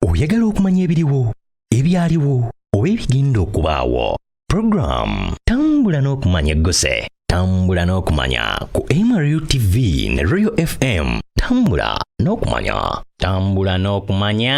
oyagala okumanya ebiriwo ebyaliwo oba ebigenda okubaawo puroguramu tambula n'okumanya eggose tambula n'okumanya ku mru tv ne royal fm tambula n'okumanya tambula n'okumanya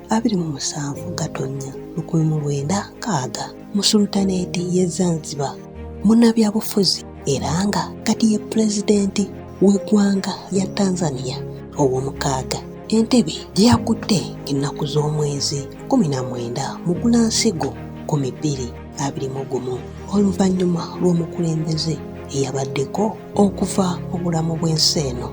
abiri mu musanvu Gatonnya lukumi mu lwenda kaaga mu sulutaneeti y'e Zanzibar munnabyabufuzi era nga kati ye pulezidenti w'eggwanga lya Tanzania ow'omukaaga entebe gye yakutte ennaku z'omwezi kumi na mwenda mu Gulansigo kumi bbiri abiri mu gumu oluvannyuma lw'omukulembeze eyabaddeko okuva mu bulamu bw'ensi eno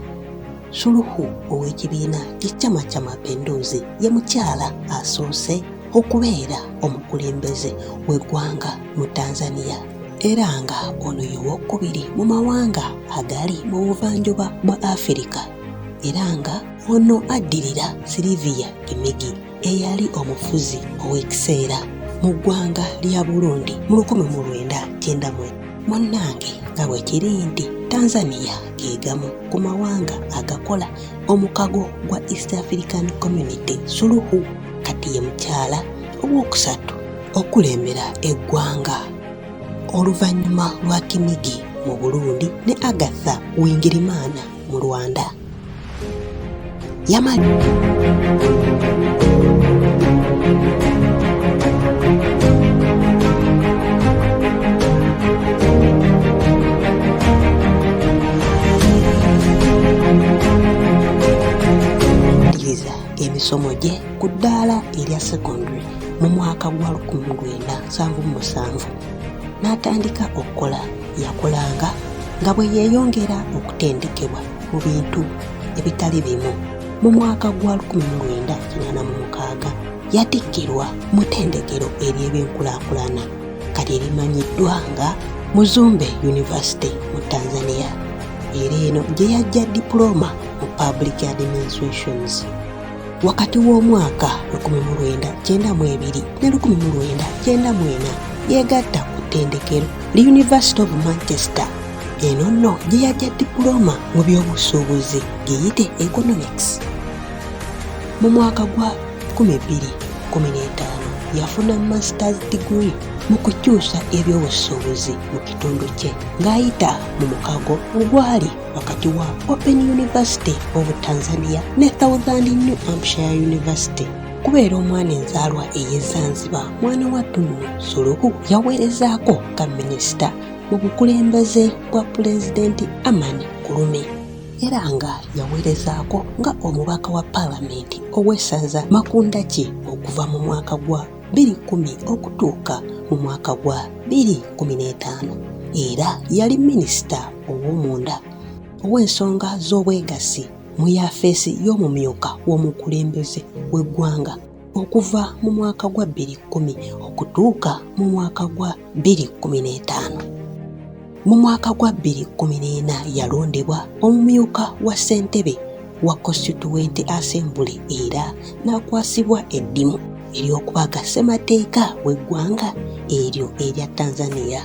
Suluhu ow'ekibiina kya Chama cha Mapinduzi ye mukyala asoose okubeera omukulembeze w'eggwanga mu Tanzania era nga ono ye wokubiri mu mawanga agali mu buvanjuba bwa Afirika era nga ono addirira Sylvia Kimigi. eyali omufuzi ow'ekiseera mu ggwanga lya Burundi mu lukumi mu lwenda kyenda mwe munnange nga bwe kiri nti Tanzania ge gamu ku mawanga agakola omukago gwa East African Community Suluhu kati ye mukyala ow'okusatu okulembera eggwanga oluvannyuma lwa Kinigi mu Burundi ne Agatha Wingirimana mu Rwanda. Yamani. emisomo gye ku ddaala erya secondary mu mwaka gwa 1977 n'atandika okukola Yakulanga nga bwe yeeyongera okutendekebwa mu bintu ebitali bimu. Mu mwaka gwa 1986 yatikkirwa mu ttendekero ery'ebyenkulaakulana kati erimanyiddwa nga Muzumbe University mu Tanzania era eno gye yajja dipulooma mu Public Administrations. wakati w'omwaka 1992 ne 1994 yeegatta ku ttendekero li University of Manchester eno nno gye yajja dipulooma mu by'obusuubuzi giyite economics mu mwaka gwa 2015 yafuna masters degree mu kukyusa ebyobusuubuzi mu kitundu kye ng'ayita mu mukago ogwali wakati wa Open University of Tanzania ne Southern New Hampshire University okubeera omwana enzaalwa ey'e Zanzibar mwana wa Tunu Suluhu yaweerezaako nga minisita mu bukulembeze bwa pulezidenti Amani Kulume era nga yaweerezaako nga omubaka wa paalamenti ow'essaza Makundaki okuva mu mwaka gwa 2010 okutuuka mu mwaka gwa 2015 era yali minisita ow'omunda ow'ensonga z'obwegassi mu yafeesi y'omumyuka w'omukulembeze w'eggwanga okuva mu mwaka gwa 2010 okutuuka mu mwaka gwa 2:15 mu mwaka gwa 2014 yalondebwa omumyuka wa ssentebe wa constituent assembly era n'akwasibwa eddimu ery'okubaga ssemateeka w'eggwanga eryo erya tanzania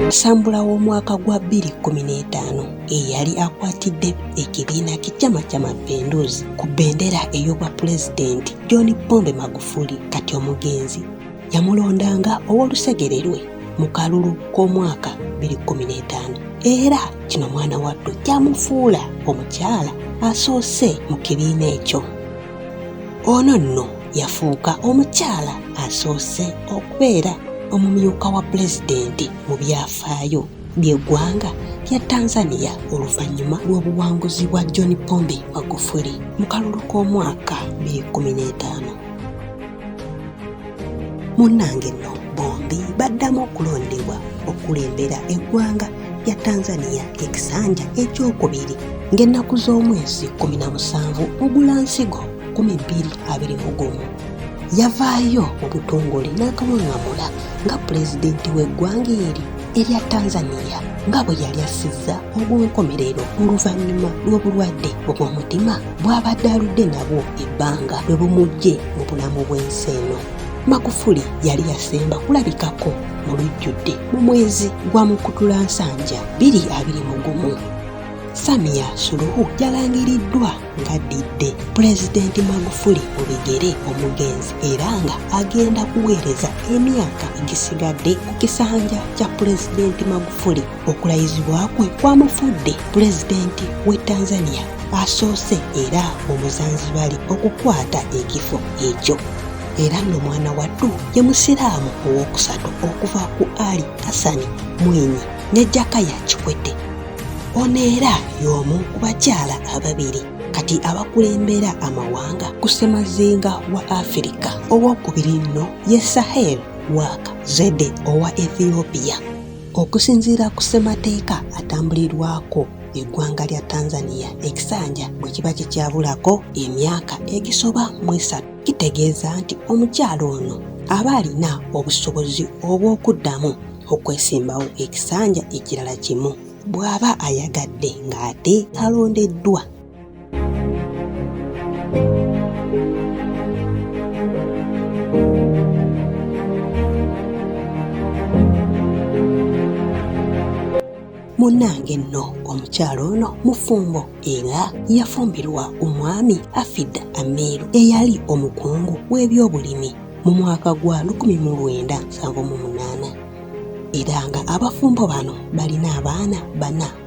Nsambula w'omwaka gwa 2015 eyali akwatidde ekibiina ky'ekyama kya Mapinduzi ku bendera ey'obwa pulezidenti John Pombe Magufuli kati omugenzi yamulondanga ow'olusegere lwe mu kalulu k'omwaka 2015 era kino mwana wattu kyamufuula omukyala asoose mu kibiina ekyo ono nno yafuuka omukyala asoose okubeera omumyuka wa pulezidenti mu byafaayo by'eggwanga lya tanzania oluvannyuma lw'obuwanguzi bwa john pombe magufuli mu kalulu k'omwaka 2015 munnange nno bombi baddamu okulondebwa okulembera eggwanga lya tanzania ekisanja ekyokubiri ng'ennaku z'omwezi 17 ogulansigo 1221 yavaayo mu butongole n'akawaŋŋamula nga pulezidenti w'eggwanga eri erya tanzania nga bwe yali assizza ogw'enkomerero oluvannyuma lw'obulwadde obw'omutima bw'abadde aludde nabwo ebbanga lwe bumuggye mu bulamu bw'ensi eno magufuli yali yasemba kulabikako mu lujjudde mu mwezi gwa mukutula nsanja 22 mu gumu samia suluhu yalangiriddwa ng'addidde pulezidenti magufuli mu bigere omugenzi era nga agenda kuweereza emyaka egisigadde ku kisanja kya pulezidenti magufuli okulayizibwa kwe kwamufudde pulezidenti w'e tanzania asoose era omuzanzibali okukwata ekifo ekyo era nno mwana wattu ye musiraamu ow'okusatu okuva ku ali hasani mwinyi ne jakaya kikwete ono era y'omu ku bakyala ababiri kati abakulembera amawanga ku ssemazinga wa afirika ow'okubiri nno ye sahel wak zede owa ethiopia Okusinziira ku ssemateeka atambulirwako eggwanga lya Tanzania ekisanja bwe kiba kikyabulako emyaka egisoba mu esatu kitegeeza nti omukyala ono aba alina obusobozi obw'okuddamu okwesimbawo ekisanja ekirala kimu bw'aba ayagadde ng'ate alondeddwa. munnange nno omukyalo ono mufumbo era yafumbirwa omwami afid amiru eyali omukungu w'ebyobulimi mu mwaka gwa 1978 era nga abafumbo bano balina abaana bana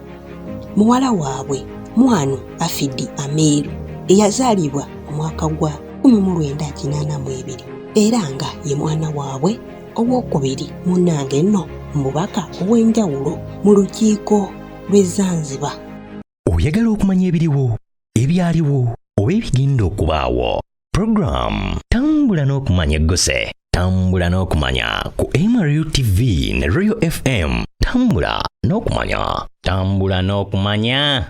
muwala waabwe Mwanu Afidi Amiiru eyazaalibwa omwaka gwa 1982 era nga ye mwana waabwe ow'okubiri munnange nno mubaka ow'enjawulo mu lukiiko lw'e Zanzibar. Oyagala okumanya ebiriwo, ebyaliwo oba ebigenda okubaawo? Program tambula n'okumanya egguse tambula n'okumanya ku MRU TV ne Royal FM tambula n'okumanya tambula n'okumanya